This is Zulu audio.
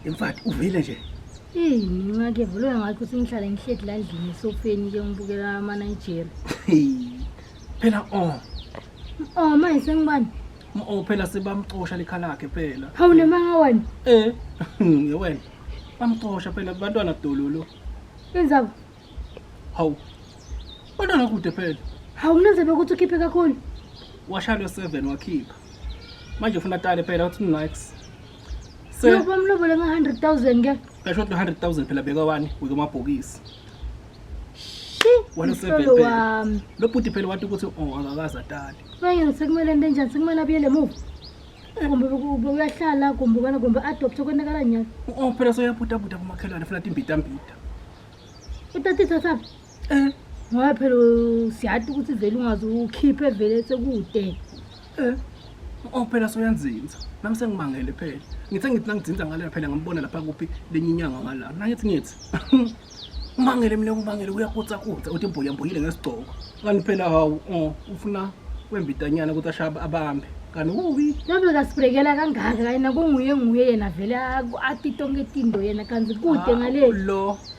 Imfati uvile nje. Hey, mina ke vule ngathi ukuthi ngihlala ngihledi la ndlini esofeni ke ngibukela ama Nigeria. Phela oh. Oh, manje sengibani? Oh, phela sebamcosha likhala lakhe phela. Hawu nemanga wena. Eh, ngewena. Bamcosha phela kubantwana dololo. Benzaba. Hawu. Bantwana kude phela. Hawu kunenzebe ukuthi ukhiphe kakhulu. Washalwe 7 wakhipha. Manje ufuna tale phela uthi nice. Se- Yoba umlobole nge-100,000 ke. ngasho ukuthi 100000 phela beka wani wike amabhokisi Shi. Wena Mhlolo usebhebhe. wami. lo bhuti phela wathi ukuthi oh akakaze atali Manje ngisekumele into enjani? Sekumele abuyele emuva. Kumbe beku- bekuyahlala kumbe kana kumbe adopt okonakala nyalo. oh phela soyabhudabhuda kumakhelwane funa timbidambida Utatithatha um ngoba phela siyati ukuthi vele ungaze ukhiphe vele sekude um o phela soyanzinza nami sengimangele phela ngithe ngithi nangidzinza ngaleya phela ngambona lapha kuphi lenye inyanga ngala nangithi ngithi umangele mina umangele uyakutsakutsa uthi mbuyambuyile ngesigcoko kanti phela hawu oh, ufuna wembitanyana ukuthi ashaya abambe kanti uwi nabe kasibrekela kangaka yena kunguye nguye yena vele ati tonke tindo yena kanti kude ngale lo